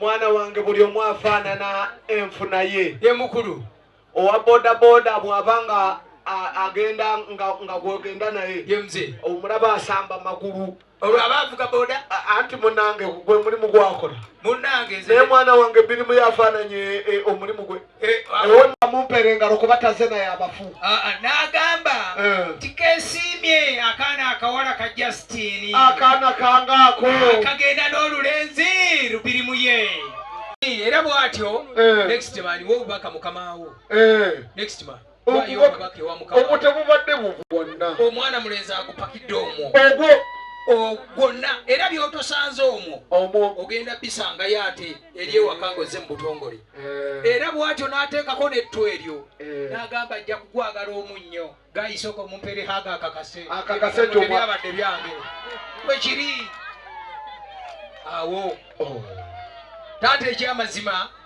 mwana wange buli omu afaanana enfuna ye ye mukulu owa bodaboda bwaba nga agenda nga gwogenda naye omulaba asamba magulu olwo aba avuga boda anti munange gwe mulimu gwakola munange naye mwana wange birimu yafaananye eh, omulimu gwe Eh, ah, ewonna mumpera engalo kuba taze naye abafu ah, ah, n'agamba eh. nti kesiimye akaana akawala ka justini akaana kangaako kagenda n'olulenzi lubiri mu ye era bw'atyo eh. next man w'obubaka mukama wo next man ogwo tegubadde buvu bwonna omwana mulenzi agupakidde omwo ogwo gwonna era byotosanze omwo omwo ogenda bisangayo ate eri ewaka ngaozze mu butongole eh. era bwatyo n'ateekako nettu eryo eh. n'agamba ajja kugwagala omunnyo gayisoko mumpere haga akakase akakase byabadde byange wekiri awo oh. taata ekyamazima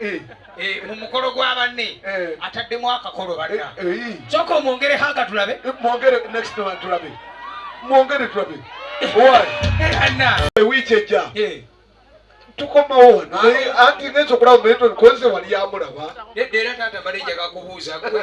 Eh. Eh, mu mukolo gwa banne eh. ataddemu akakolo banna kyoka omwongere hanga tulabe mwongere next one tulabe mwongere tulabe ewiiki ejja tukomawo wano anti ngenza okulaba muyetoni konze wali amulaba era taata mbalenjagakubuuza gwe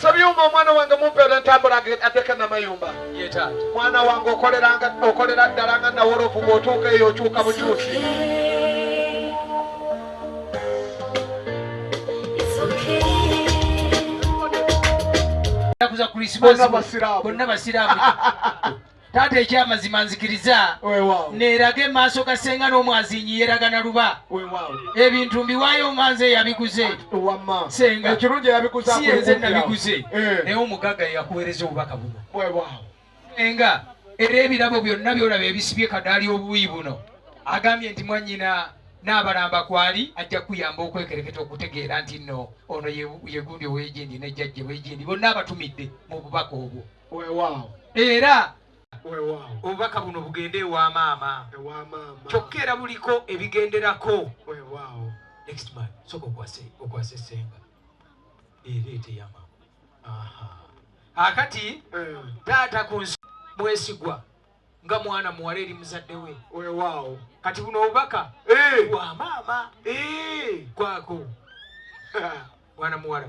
Sabyuma omwana wange mumpe olwentambula addeko namayumba mwana wange okolera ddala nga nawolovu bwotuuka eyo okyuka bukyusi bonna basiraamu taata ekyamazima nzikiriza nerage maaso ga senga n'omwazinyi yeragana luba ebintu mbiwaayo nga nze yabiguze sengasiyenze nabiguze eh. naye omugaga yakuwereza obubaka buno enga era ebirabo byonna byolaba ebisibye kadaali obuyi buno agambye nti mwanyina n'abalamba kwali ajja kuyamba okwekereketa okutegeera nti nno ono yegundi owejindi nejjajje wejindi bonna abatumidde mu bubaka obwo era obubaka buno bugende ewa maama kyokka era buliko ebigenderako okwasa esenga ereeteyama akati eh. taata ku nsi mwesigwa nga mwana muwala eri muzadde we wewaawo kati buno obubaka eh. bwa maama eh. kwako mwana muwala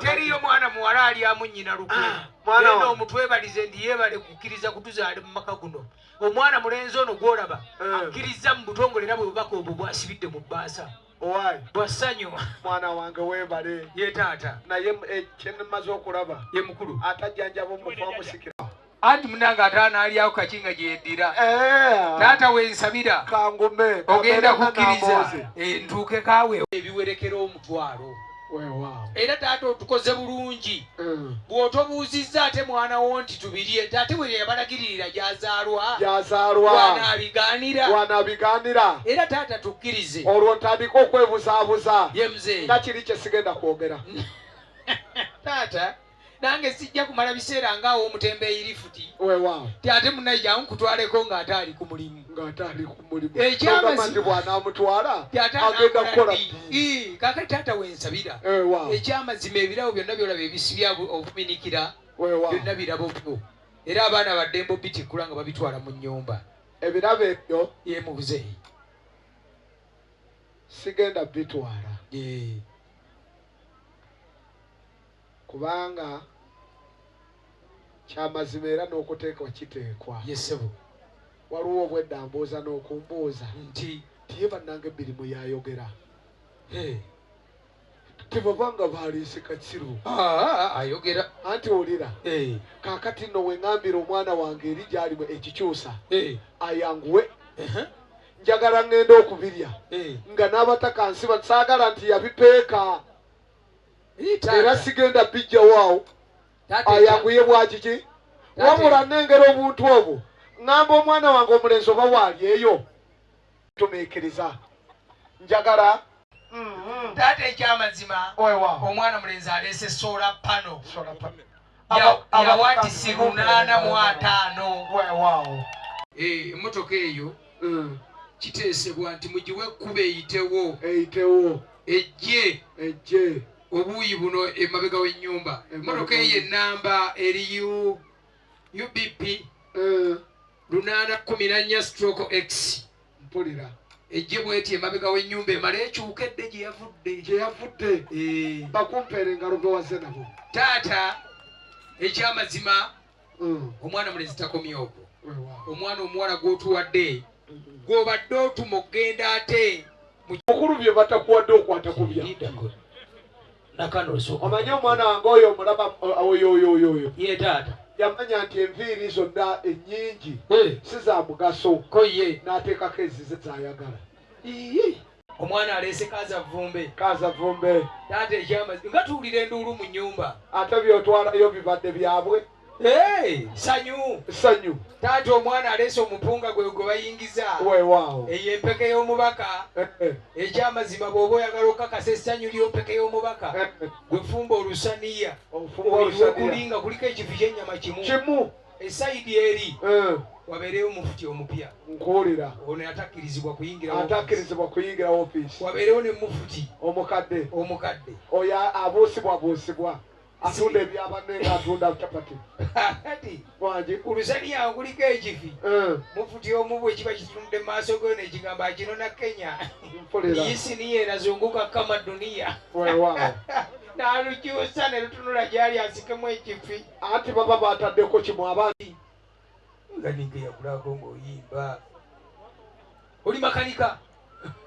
teriyo mwana muwala alyamu nyina lukuenda ah, omutwebalize ndi yebale kukkiriza kutuzaale mu maka guno omwana mulenzi ono gwolaba eh. akkiriza mu butongole era bwebubaka obwo bwasibidde mu bbaasa bwasanyu mwana wange webale ye taata naye eh, kyenmaze okulaba ye mukulu atajjanjaba omufu amusikira anti munange ate anaalyawo kaki nga gye yeddira eh. taata we nsabira ogenda kukkiriza eh, ntuuke kaawe ebiwerekera omutwalo era taata otukoze bulungi mm. bw'otobuuzizza ate mwana wo nti tubirye nti ate bwe yabalagiririra gyazaalwawanabigaanira era taata tukkirize olwo ntandika okwebuzaabuza nga kiri kye sigenda kwogera taata nange sijja kumala biseera nga awo omutembeeyi lifuti ti ate munaye jangu kutwaleko ng'ate ali ku mulimu kakati taata wensabira ekyamazima ebirabo byonna byolaba ebisibya obuminikira byonna birabo byo era abaana baddembo bitikkula nga babitwala mu nyumba ebirabo ebyo ye mubuzeeyi sigenda bitwala Kubanga Kya mazima era n'okuteekwa kiteekwa. Ye ssebo. Waliwo obwedda ambuuza n'okumbuuza. Nti. Nti ye bannanga ebbiri mwe yayogera. Hey. tebabanga baliise kakiru ah, ah, ah, ayogera anti olira eh. kakati no wengambira omwana wange eri gyalimu ekikyusa eh. ayanguwe uh-huh. njagala ngenda okubirya eh. nga n'abataka nsiba saagala nti yabipeeka era sigenda bijjawo awo ayanguye bwakiki wabula nengera obuntu obwo ŋŋamba omwana wange omulenzi oba waali eyo tumiikiriza njagala mm-hmm. taata ekyamazima omwana mulenzi aleese sola pano yawatisi lunaana mu ataano eh, emmotoka eyo mm. kiteesebwa nti mugiwe ekkuba eyitewo eyitewo ejje ejje obuuyi buno emabega w'ennyumba emmotoka eyo ennamba eri ubb eh. lunaana kumi nannya stroke x mpulira ejje bweti emabega w'ennyumba emale ekyuka edde gye yavudde gye yavudde eh. bakumpeera engalo gwe waze nabo taata ekyamazima mm. omwana mulezi takomye okwo omwana omuwala gw'otuwadde mm-hmm. gw'obadde otuma okugenda ate mukulu bye batakuwadde okwata kubya nakano osooka omanyi omwana wange oyo omulaba oyoyoyoyo ye taata yamanya nti enviiri zonna ennyingi si za mugaso ko ye n'ateekako ezize zayagala omwana aleese kaza vumbe kaza vumbe taata ekyamazi nga tuwulira enduulu mu nnyumba ate byotwalayo bibadde byabwe sanyu sanyu taata omwana aleese omupunga gwe gwe bayingiza wewaawo eyo empeke y'omubaka eh, eh. ekyamazima bw'oba oyagala okukakasa essanyu ly'ompeke y'omubaka eh, gwe fumba olusaniya wekuli nga kuliko ekifi ky'ennyama kimu kimu esayidi eri wabeereyo omufuti omupya nkuwulira ono atakkirizibwa kuyingira atakkirizibwa kuyingira ofiisi wabeerewo ne mufuti omukadde omukadde oyo abuusibwabuusibwa atunda ebya banne nga atunda capati kati wagi ulusaniya kuliko ekifi eh. mufuti omu bwe kiba kitunudde mu maaso geyo nekigamba kino na kenya yisiniya erazunguka kama duniya nalukyusa ne lutunula gyali asikemu ekifi anti baba bataddeko kimu abandi nga ninka eyakulako ngaoyimba oli makanika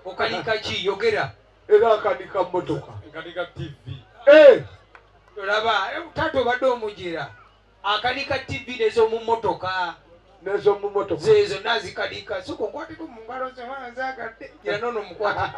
okanika ki yogera era akanika motoka akanika tv eh! olaba eh, taata obadde omujera akanika tv nezomumotoka nezomumotoka zezo nazikanika soka okwateko mungalo zewanzagadde era nono mukwateko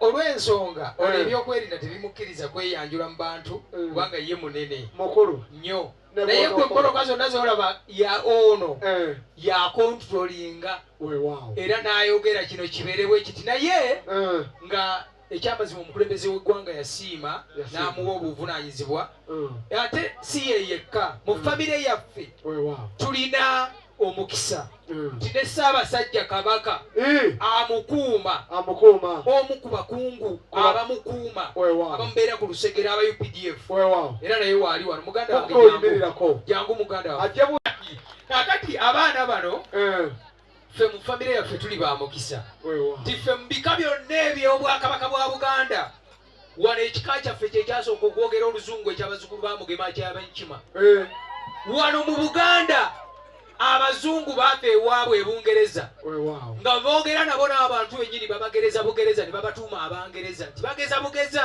olw'ensonga eh. olwo ebyokwerinda tebimukkiriza kweyanjula mu bantu eh. kubanga ye munene mukulu nnyo naye gwe mpoloka zonna zolaba ya ono eh. yakontrolinga era n'ayogera kino kibeerewo ekiti naye nga ekyamazima omukulembeze w'eggwanga yasiima n'amuwa obuvunanyizibwa ate si ye yekka mu famire yaffe tulina omukisa mm. nti ne Ssaabasajja Kabaka eh. amukuuma amukuuma omu ku bakungu abamukuuma abamubeera ku lusegere aba UPDF era naye waali wano muganda wange jangu muganda wange kakati abaana bano eh. ffe mu famire yaffe tuli ba mukisa nti ffe mu bika byonna eby'obwakabaka bwa Buganda wano ekika kyaffe kyekyasooka okwogera oluzungu ekyabazukulu ba mugema kyabenkima eh. wano mu buganda abazungu baava ewaabwe ebungereza nga boogera nabo n'abantu benyini babagereza bugereza ne babatuuma abangereza nti bageza bugeza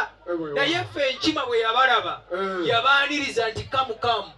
naye ffe enkima bwe yabalaba eh. yabaaniriza nti kamukamu